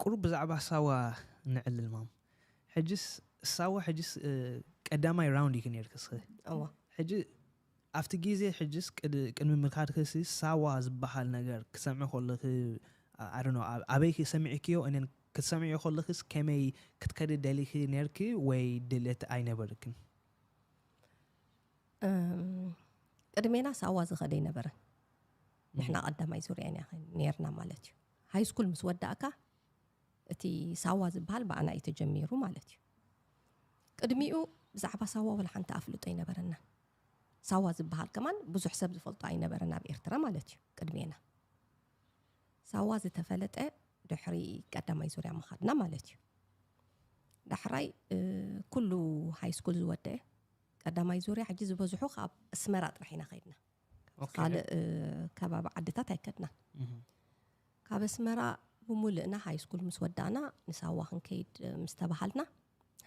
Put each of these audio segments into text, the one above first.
ቁሩብ ብዛዕባ ሳዋ ነዕልል ማም ሕጅስ ሳዋ ሕጅስ ቀዳማይ ራውንድ ኢኪ ነርኪ ስኪ እወ ሕጂ ኣብቲ ግዜ ሕጅስ ቅድሚ ምካድኪ ሲ ሳዋ ዝበሃል ነገር ክሰምዒ ከለኪ ኣዶኖ ኣበይኪ ሰሚዕክዮ እነን ክትሰምዕዮ ከለኪስ ከመይ ክትከዲ ደሊኪ ነርኪ ወይ ድልት ኣይነበርክን ቅድሜና ሳዋ ዝኸደ ኣይነበረን ንሕና ቀዳማይ ዙርያ ኢና ነርና ማለት እዩ ሃይስኩል ምስ ወዳእካ እቲ ሳዋ ዝበሃል ብኣና እዩ ተጀሚሩ ማለት እዩ። ቅድሚኡ ብዛዕባ ሳዋ ወላ ሓንቲ ኣፍልጦ ኣይነበረናን። ሳዋ ዝበሃል ከማን ብዙሕ ሰብ ዝፈልጦ ኣይነበረን ኣብ ኤርትራ ማለት እዩ ቅድሜና። ሳዋ ዝተፈለጠ ድሕሪ ቀዳማይ ዙርያ ምኻድና ማለት እዩ። ዳሕራይ ኩሉ ሃይስኩል ዝወደአ ቀዳማይ ዙርያ ሕጂ ዝበዝሑ ካብ ኣስመራ ጥራሕ ኢና ከይድና። ኦኬ። ካልእ እ፣ ከባቢ ዓድታት ኣይከድናን ካብ ኣስመራ ብሙልእና ሃይስኩል ምስ ወዳእና ንሳዋ ክንከይድ እ፣ ምስ ተባሃልና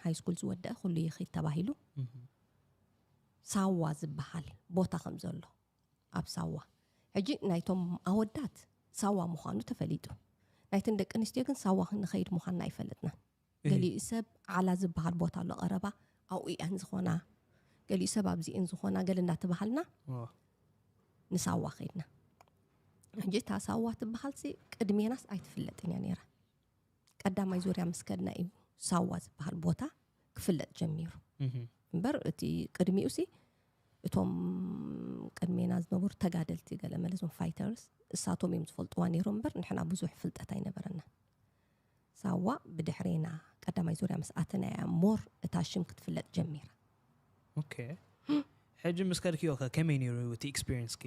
ሃይስኩል ዝወደአ ኩሉ ይኽድ ተባሂሉ ሳዋ ዝበሃል ቦታ ከም ዘሎ ኣብ ሳዋ ሕጂ ናይቶም ኣወዳት ሳዋ ምዃኑ ተፈሊጡ ናይተን ደቂ ኣንስትዮ ግን ሳዋ ክንኸይድ ምዃንና ኣይፈለጥናን ገሊኡ ሰብ ዓላ ዝበሃል ቦታ ኣሎ ቀረባ ኣብኡ እየን ዝኾና ገሊኡ ሰብ ኣብዚ እየን ዝኾና ገለ እንዳተባሃልና ንሳዋ ከይድና ሕጂ እታ ሳዋ ትበሃልሲ ቅድሜናስ ኣይትፍለጥን እያ ነይራ ቀዳማይ ዙርያ ምስ ከድና እዩ ሳዋ ዝበሃል ቦታ ክፍለጥ ጀሚሩ እምበር እቲ ቅድሚኡ ሲ እቶም ቅድሜና ዝነበሩ ተጋደልቲ ገለ መለዞም ፋይተርስ እሳቶም እዮም ዝፈልጥዋ ነይሮም እምበር ንሕና ብዙሕ ፍልጠት ኣይነበረና ሳዋ ብድሕሪ ና ቀዳማይ ዙርያ ምስ ኣተና እያ ሞር እታ ሽም ክትፍለጥ ጀሚራ። ኦኬ ሕጂ ምስ ከድክዮ ከ ከመይ ነይሩ እቲ ኤክስፒሪየንስኪ?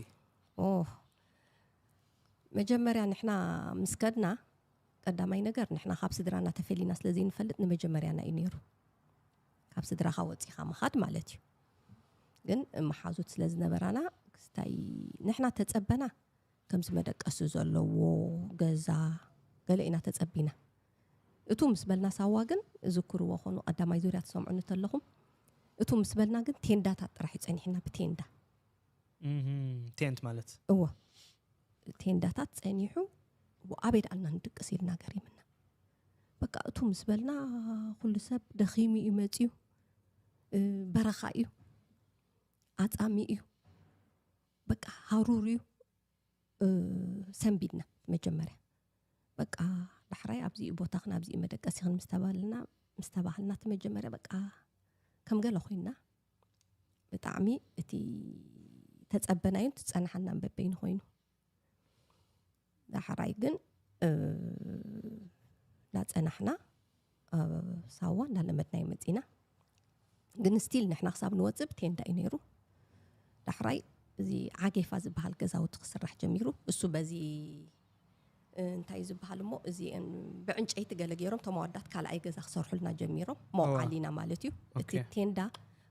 ኦህ መጀመርያ ንሕና ምስ ከድና ቀዳማይ ነገር ንሕና ካብ ስድራና ተፈሊና ስለ ዘይንፈልጥ ንመጀመርያና እዩ ነይሩ። ካብ ስድራኻ ወጺኻ ምኻድ ማለት እዩ። ግን መሓዙት ስለ ዝነበራና ክስታይ ንሕና ተጸበና ከምዚ መደቀሲ ዘለዎ ገዛ ገለ ኢና ተጸቢና እቱ ምስ በልና ሳዋ ግን እዝክርዎ ኮኑ ቀዳማይ ዙርያ ትሰምዑኒ ተለኹም እቱ ምስ በልና ግን ቴንዳታት ጥራሕ እዩ ጸኒሕና ብቴንዳ ቴንት ማለት እዎ ቴንዳታት ጸኒሑ ኣበይ ደኣልና ንድቅስ ኢልና ገሪምና በቃ እቱ ምስ በልና ኩሉ ሰብ ደኺሙ እዩ መፅዩ በረኻ እዩ ኣፃሚ እዩ በቃ ሃሩርዩ ሰንቢድና መጀመርያ በቃ ዳሕራይ ኣብዚኡ ቦታኽን ኣብዚኡ መደቀሲኽን ምስ ተባልና ምስ ተባህልና እቲ መጀመርያ በቃ ከም ገለ ኮይና ብጣዕሚ እቲ ተፀበናዩን ትፀናሓናን በበይኑ ኮይኑ ዳሕራይ ግን ዳፀናሕና ሳዋ እንዳለመድናዮ መፂና ግን ስቲል ንሕና ክሳብ ንወፅእ ብቴንዳ እዩ ነይሩ ዳሕራይ እዚ ዓጌፋ ዝበሃል ገዛውቲ ክስራሕ ጀሚሩ እሱ በዚ እንታይ ዝበሃል እሞ እዚ ብዕንጨይቲ ገለ ገይሮም እቶም ኣዋዳት ካልኣይ ገዛ ክሰርሑልና ጀሚሮም መውዓሊና ማለት እዩ እቲ ቴንዳ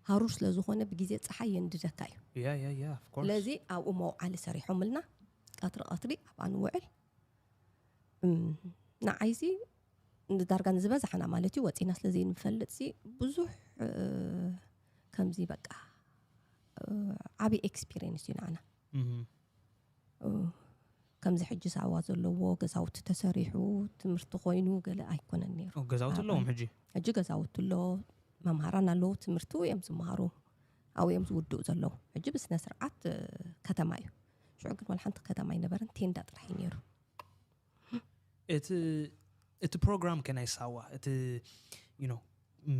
ሃሩር ስለ ዝኾነ ብግዜ ፀሓይ የንድደካ እዩ ስለዚ ኣብኡ መውዓሊ ሰሪሖምልና ቀትሪ ቀትሪ ኣብኣ ንውዕል ንዓይሲ ንዳርጋ ንዝበዛሕና ማለት እዩ ወፂና ስለ ዘይንፈልጥ ሲ ብዙሕ ከምዚ በቃ ዓብዪ ኤክስፒሪየንስ እዩ ንዓና ከምዚ ሕጂ ሳዋ ዘለዎ ገዛውቲ ተሰሪሑ ትምህርቲ ኮይኑ ገለ ኣይኮነን ነይሩ ገዛውቲ ኣለዎም ሕጂ ሕጂ ገዛውቲ ኣሎ መምሃራን ኣለዉ ትምህርቲ እዮም ዝመሃሩ ኣብኡ እዮም ዝውድኡ ዘለዉ ሕጂ ብስነ ስርዓት ከተማ እዩ ሽዑ ግን ዋላ ሓንቲ ከተማ ኣይነበረን ቴንዳ ጥራሕ እዩ ነይሩ እቲ እቲ ፕሮግራም ከ ናይ ሳዋ እቲ ዩኖ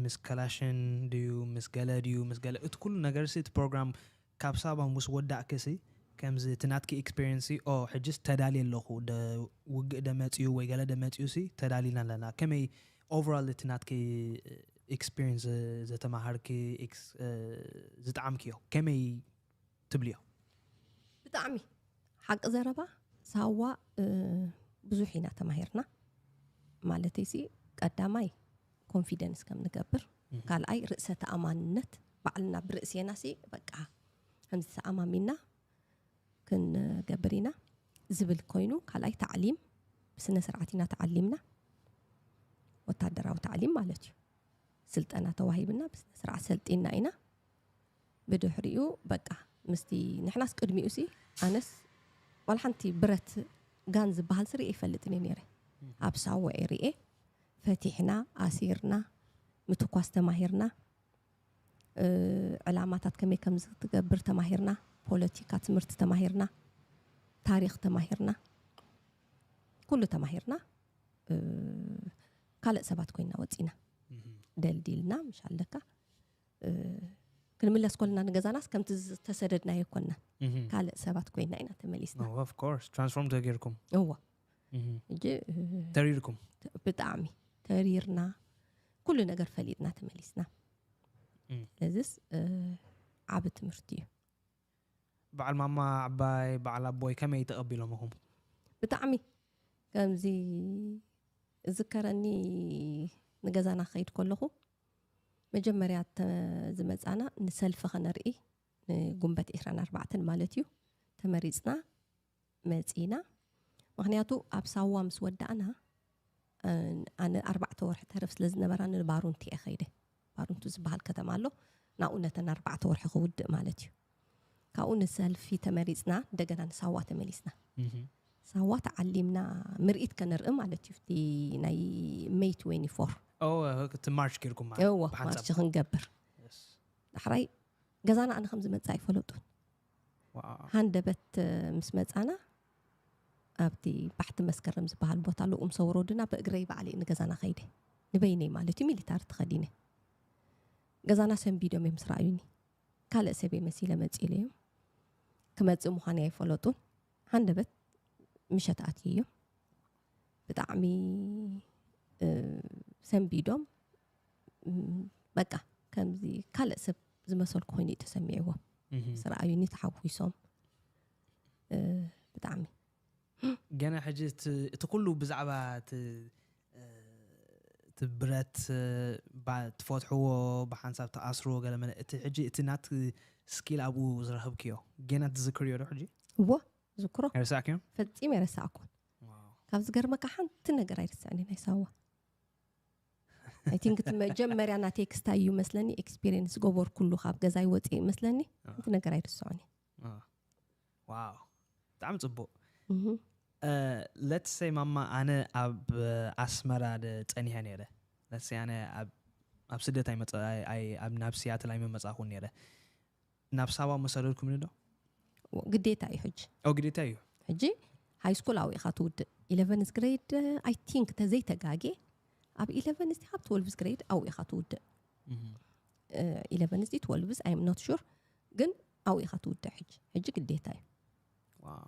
ምስ ከላሽን ድዩ ምስ ገለ ድዩ ምስ ገለ እቲ ኩሉ ነገር ሲ እቲ ፕሮግራም ካብ ሳባ ምስ ወዳእኪ ሲ ከምዚ እቲ ናትኪ ኤክስፔሪንስ ኦ ሕጅስ ተዳልየ ኣለኹ ውግእ ደመፅኡ ወይ ገለ ደመፅኡ ሲ ተዳሊና ኣለና ከመይ ኦቨራል እቲ ናትኪ ኤክስፒሪንስ ዘተማሃርኪ ዝጠዓምክዮ ከመይ ትብልዮ? ብጣዕሚ ሓቂ ዘረባ ሳዋ ብዙሕ ኢና ተማሂርና ማለተይሲ ቀዳማይ ኮንፊደንስ ከም ንገብር ካልኣይ ርእሰ ተኣማንነት ባዕልና ብርእሴና ሲ በቃ ከምዚ ተኣማሚና ክንገብር ኢና ዝብል ኮይኑ ካልኣይ ታዕሊም ብስነ ስርዓት ኢና ተዓሊምና ወታደራዊ ታዕሊም ማለት እዩ ስልጠና ተዋሂብና ብስነ ስርዓት ሰልጢና ኢና ብድሕሪኡ በቃ ምስቲ ንሕናስ ቅድሚኡ ሲ ኣነስ ዋላ ሓንቲ ብረት ጋን ዝበሃል ስርኤ ይፈልጥን እየ ነይረ ኣብ ሳወ ኤርኤ ፈቲሕና ኣሲርና ምትኳስ ተማሂርና ዕላማታት ከመይ ከምዝትገብር ተማሂርና፣ ፖለቲካ ትምህርቲ ተማሂርና፣ ታሪኽ ተማሂርና፣ ኩሉ ተማሂርና ካልእ ሰባት ኮይና ወፂና ደልዲልና ምሽ ኣለካ ክንምለስ ኮልና ንገዛናስ ከምቲ ዝተሰደድናዮ ኮና ካልእ ሰባት ኮይና ኢና ተመሊስና ትራንስፎርም ተገይርኩም እዎ ተሪርኩም ብጣዕሚ ተሪርና ኩሉ ነገር ፈሊጥና ተመሊስና እዚስ ዓብ ትምህርቲ እዩ በዓል ማማ ዓባይ በዓል ኣቦይ ከመይ ተቐቢሎምኹም ብጣዕሚ ከምዚ እዝከረኒ ንገዛና ክኸይድ ከለኹ መጀመርያ ዝመፃና ንሰልፊ ከነርኢ ንጉንበት 24 ማለት እዩ ተመሪፅና መጺእና ምኽንያቱ ኣብ ሳዋ ምስ ወዳእና ኣነ ኣርባዕተ ወርሒ ተርፍ ስለ ዝነበራኒ ንባሩንቲ እየ ከይደ ባሩንቱ ዝበሃል ከተማ ኣሎ ናብኡ ነተን ኣርባዕተ ወርሒ ክውድእ ማለት እዩ ካብኡ ንሰልፊ ተመሪፅና እንደገና ንሳዋ ተመሊስና ሳዋ ተዓሊምና ምርኢት ከነርኢ ማለት እዩ እቲ ናይ ሜይ 24 ማርች ጌርኩም እዎ ማርች ክንገብር ዳሕራይ ገዛና ኣነ ከም ዝመፅእ ኣይፈለጡን ሃንደበት ምስ መጻና ኣብቲ ባሕቲ መስከረም ዝበሃል ቦታ ኣሎ ኡምሶ ወሮድና ብእግረይ ባዕለይ ንገዛና ከይደ ንበይነይ ማለት እዩ ሚሊታሪ ተኸዲነ ገዛና ሰንቢዶም እዮም ምስ ረኣዩኒ ካልእ ሰበይ መሲለ መጺለ እዮም ክመጽእ ምዃነይ ኣይፈለጡን ሃንደበት ምሸት ኣትዩ እዮም ብጣዕሚ ሰንቢዶም በቃ ከምዚ ካልእ ሰብ ዝመሰልኩ ኮይኑ እዩ ተሰሚዕዎ ምስ ረኣዩኒ ተሓጒሶም እ፣ ብጣዕሚ ገና ሕጂ እቲ እቲ ኩሉ ብዛዕባ እቲ እ፣ እቲ ብረት እ፣ ባ- ትፈትሕዎ ብሓንሳብ ተኣስርዎ ገለ መለ እቲ ሕጂ እቲ ናት ስኪል ኣብኡ ዝረኸብክዮ ገና ትዝክርዮ ዶ ሕጂ እዎ ዝክሮ ኣይርሳዕክዮ ፈጺመ ኣይረሳዕኩን ካብ ዝገርመካ ሓንቲ ነገር ኣይርስዕን ናይ ሳዋ ኣይ ቲንክ እቲ መጀመርያ ናተይ ክስታይ እዩ መስለኒ ኤክስፒሪየንስ ዝገበርኩሉ ካብ ገዛይ ወፅኢ መስለኒ እቲ ነገር ኣይርስዖን እዩ አ፣ ዋው ብጣዕሚ ፅቡቅ እህ። ለትሰይ ማማ ኣነ ኣብ ኣስመራ ደ ፀኒሐ ነይረ ለትሰይ ኣነ ኣብ ኣብ ስደት ኣይመፀ- ኣይ- ኣይ- ኣብ- ናብ ሲያትል ኣይመመፃእኹን ነይረ ናብ ሳዋ ምወሰደልኩምኒ ዶ? ግዴታ እዩ ሕጂ። ኦ ግዴታ እዩ። ሕጂ ሃይስኩል ኣብኡ ኢኻ ትውድእ። ኢለቨንዝ ግሬድ ኣይ ቲንክ ተዘይተጋጌ ኣብ ኢለቨንዝ ዲኻ ኣብ ትወልቭዝ ግሬድ ኣብኡ ኢኻ ትውድእ። ኢለቨንዝ ዲ ትወልቭዝ ኣይ ኣም ኖት ሹር ግን ኣብኡ ኢኻ ትውድእ ሕጂ። ሕጂ ግዴታ እዩ። ዋው